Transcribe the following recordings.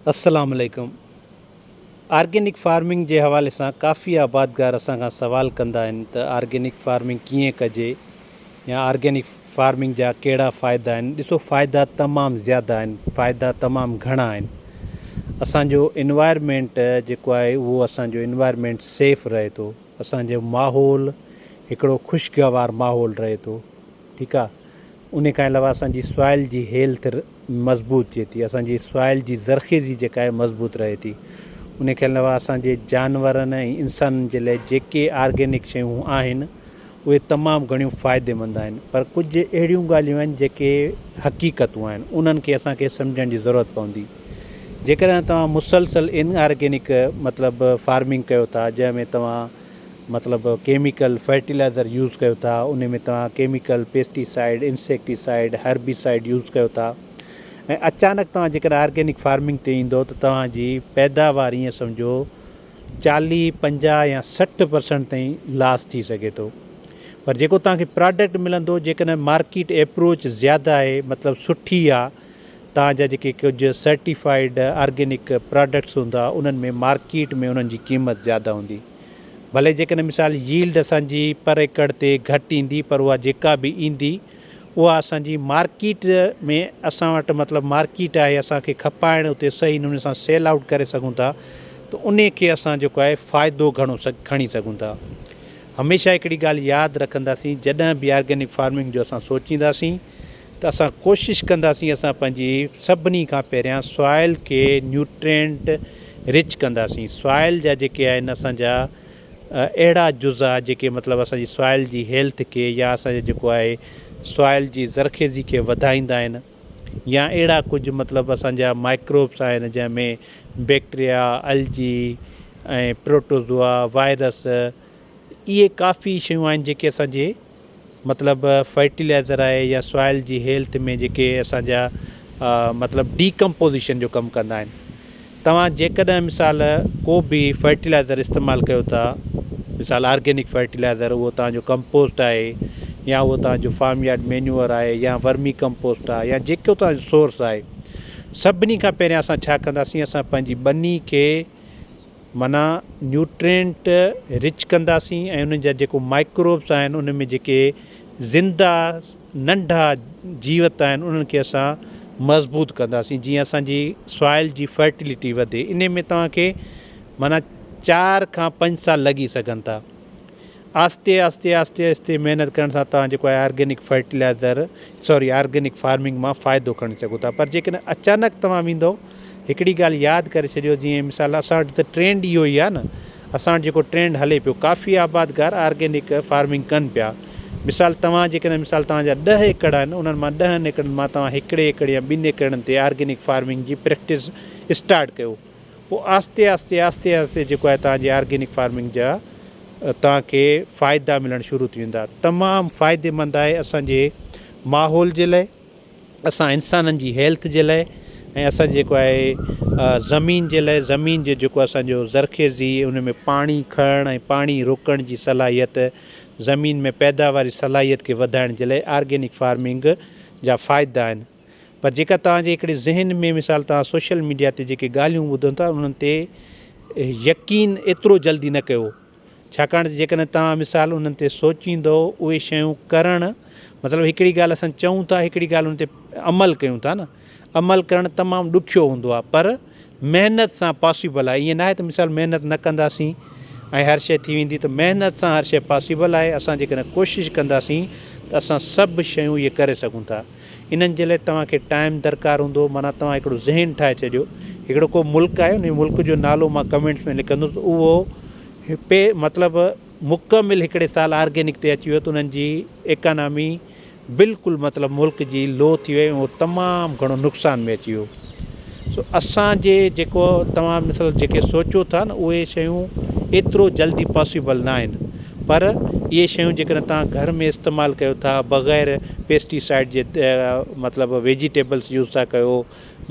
السلام عليڪم organic farming جي حوالي سان ڪافي آبادگار اسان کان سوال ڪندا آهن ته آرگينڪ فارمنگ ڪيئن ڪجي يا آرگينڪ فارمنگ جا ڪهڙا فائدا آهن ڏسو فائدا تمام زياده آهن فائدا تمام گهڻا آهن اسان جو انوائرمينٽ جيڪو آهي اهو اسان جو انوائرمينٽ سيف رهي ٿو اسان جو ماحول هڪڙو خوشگوار ماحول رهي ٿو ٺيڪ آ انهي کان علاوه اسان جي سوائل جي هيلٿ مضبوط ٿئي ٿي اسان جي سوائل جي زرخيزي جيڪا آهي مضبوط رهي ٿي انهي کان علاوه اسان جي جانورن ۽ انسانن جي لاء جيڪي آرگينڪ شيون آهن اهي تمام گهڻيون فائدي مند آهن پر ڪجهه اهڙيون ڳالهيون آهن جيڪي حقيقتون آهن انهن کي اسان کي سمجهڻ جي ضرورت پوندي جيڪڏهن توهان مسلسل ان آرگينڪ مطلب فارمنگ ڪيو ٿا جنهن ۾ توهان مطلب ڪيميڪل فرٽيلائزر يوز ڪيو ٿا ان ۾ توهان chemical pesticide insecticide herbicide use ڪيو ٿا ۽ اچانڪ توهان جيڪڏهن آرگينڪ فارمنگ تي ايندو ته توهان جي پيداوار ايئن سمجهو چاليهه پنجاهه يا سٺ پرسنٽ تائين لاس ٿي سگهي ٿو پر جيڪو توهان کي پراڊڪٽ ملندو جيڪڏهن مارڪيٽ ايپروچ زياده آهي مطلب سٺي آهي تان جا جيڪي ڪجهه سرٽيفائيڊ آرگينڪ پراڊڪٽس هوندا انهن ۾ مارڪيٽ ۾ انهن جي قيمت زياده هوندي ڀلي جيڪڏهن مثال ييلڊ اسان جي پر ايڪڙ تي گهٽ ايندي پر اها جيڪا به ايندي اها اسان جي مارڪيٽ ۾ اسان وٽ مطلب مارڪيٽ آهي اسان کي کپائڻ اتي صحيح نموني سان سيل آئوٽ ڪري سگهون ٿا ته انهي کي اسان جيڪو آهي فائدو گهڻو کڻي سگهون ٿا هميشه هڪڙي ڳالهه ياد رکنداسين جڏهن به آرگينڪ فارمنگ جو اسان سوچينداسين ته اسان ڪوشش ڪنداسين اسان پنهنجي سڀني کان پهريان سوائل کي نيوٽرينٽ رچ ڪنداسين سوائل جا جيڪي آهن اسان جا اهڙا جزا جيڪي مطلب اسان جي سوائل جي هيلٿ کي يا اسان جي جيڪو آهي سوائل جي زرخيزي کي وڌائيندا آهن يا اهڙا ڪجهه مطلب اسان جا مائڪروبس آهن جنهن ۾ بيڪٽريا الجي ۽ پروٽوزوا وائرس اهي ڪافي شيون آهن جيڪي اسان جي مطلب فرٽيلائزر آهي يا سوائل جي هيلٿ ۾ جيڪي اسان جا مطلب ڊي ڪمپوزيشن جو ڪم ڪندا آهن توهان جيڪڏهن مثال ڪو به فرٽيلائزر استعمال ڪيو ٿا مثال آرگينڪ فرٽيلائزر اهو توهان جو ڪمپوسٽ آهي يا اهو توهان جو فارم يارڊ مينيور آهي يا ورمي ڪمپوسٽ آهي يا جيڪو توهان جو سورس آهي سڀني کان پهريان اسان ڇا ڪنداسين اسان پنهنجي ٻني کي معنيٰ نيوٽرينٽ رچ ڪنداسين ۽ انهن جا جيڪو مائڪروبس آهن انهن ۾ جيڪي زنده ننڍا جيوت آهن انهن کي اسان مضبوط ڪنداسين جيئن اسان جي سوائل جي فرٽيلٽي وڌي انهي ۾ توهان کي معنيٰ چار کان پنج سال لڳي سگهن ٿا آھستي آھستي آھستي آھستي محنت ڪرڻ سان توھان جيڪو آھي organic fertilizer sorry organic farming مان فائدو کڻي سگھو ٿا پر جيڪڏھن اچانڪ توھان ويندو ھڪڙي ڳالھ ياد ڪري ڇڏيو جيئن مثال اسان وٽ ته ٽرينڊ اھو ئي آھي نه اسان وٽ جيڪو ٽرينڊ ھلي پيو ڪافي آبادگار آرگينڪ فارمنگ ڪن پيا مثال توھان جيڪڏھن مثال توھان جا ڏھ ايڪڙ آھن انھن مان ڏھن ايڪڙن مان توھان ھڪڙي ايڪڙ يا ٻن ايڪڙن تي آرگينڪ فارمنگ جي پريڪٽس اسٽارٽ ڪيو پوء آھستي آھستي آھستي آھستي جيڪو آھي توھان جي آرگينڪ فارمنگ جا توھان کي فائدا ملڻ شروع ٿي ويندا تمام فائدي مند آھي اسان جي ماحول جي لاء اسان انسانن جي ھيلٿ جي لاء ۽ اسان جي جيڪو آھي زمين جي لاء زمين جي جيڪو اسان جو زرخيزي ان ۾ پاڻي کڻڻ ۽ پاڻي روڪڻ جي صلاحيت زمين ۾ پيداواري صلاحيت کي وڌائڻ جي لاء آرگينڪ فارمنگ جا فائدا آھن. پر جيڪا توهان جي هڪڙي ذهن ۾ مثال توهان سوشل ميڊيا تي جيڪي ڳالهيون ٻڌن ٿا انهن تي يقين ايترو جلدي نه ڪيو ڇاڪاڻ ته جيڪڏهن توهان مثال انهن تي سوچيندو اهي شيون ڪرڻ مطلب هڪڙي ڳالهه اسان چئون ٿا هڪڙي ڳالهه ان تي عمل ڪيون ٿا نه عمل ڪرڻ تمام ڏکيو هوندو آهي پر محنت سان پاسيبل آهي ائين ناهي ته مثال محنت نه ڪنداسين ۽ هر شيء ٿي ويندي ته محنت سان هر شيء پاسيبل آهي اسان جيڪڏهن ڪوشش ڪنداسين ته اسان سڀ شيون اهي ڪري سگهون ٿا انهن جي لاء توهان کي ٽائيم درڪار هوندو معنيٰ توهان هڪڙو ذهن ٺاهي ڇڏيو هڪڙو ڪو ملڪ آهي انهي ملڪ جو نالو مان ڪمينٽس ۾ لکندس اهو پي مطلب مڪمل هڪڙي سال آرگينڪ تي اچي ويو ته انهن جي ايڪانامي بلڪل مطلب ملڪ جي لو ٿي وئي ۽ تمام گھڻو نقصان ۾ اچي ويو سو اسان جي جيڪو توھان مثل جيڪي سوچيو ٿا نھ اھي شيون ايترو جلدي پاسيبل نھ آھن پر اھي شيون جيڪڏھن توھان گھر ۾ استعمال ڪيو ٿا بغير پيسٽي سائيڊ جي مطلب ويجيٽيبلس يوز ٿا ڪيو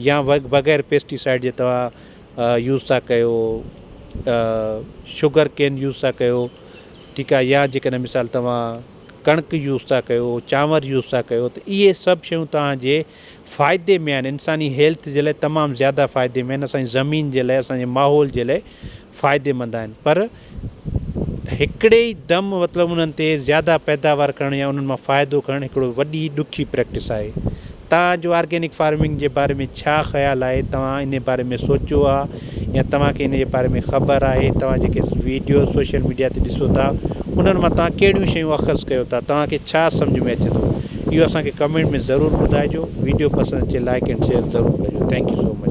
يا بغير پيسٽي سائيڊ جي توھان يوز ٿا ڪيو شگر ڪين يوز ٿا ڪيو ٺيڪ آھي يا جيڪڏھن مثال توھان ڪڻڪ يوز ٿا ڪيو چانور يوز ٿا ڪيو ته اهي سڀ شيون توهان جي فائدي ۾ آهن انساني هيلٿ جي لاء تمام زياده فائدي ۾ آهن اسان جي زمين جي لاء اسان جي ماحول جي لاء فائدي مند آهن پر هڪڙي ئي دم مطلب انهن تي زياده پيداوار ڪرڻ يا انهن مان فائدو کڻڻ هڪڙو وڏي ڏکي پريڪٽس آهي توهان جو آرگينڪ فارمنگ جي باري ۾ ڇا خيال آهي توهان انهي باري ۾ سوچيو آ يا توهان کي ان جي باري ۾ خبر آهي توهان جيڪي ويڊيوز سوشل ميڊيا تي ڏسو ٿا انهن مان توهان ڪهڙيون شيون اخذ ڪيو ٿا توهان کي ڇا سمجھ ۾ اچي ٿو اهو اسان کي ڪمينٽ ۾ ضرور ٻڌائجو ويڊيو پسند اچي لائيڪ اينڊ شيئر ضرور ڪجو ٿينڪ يو سو مچ.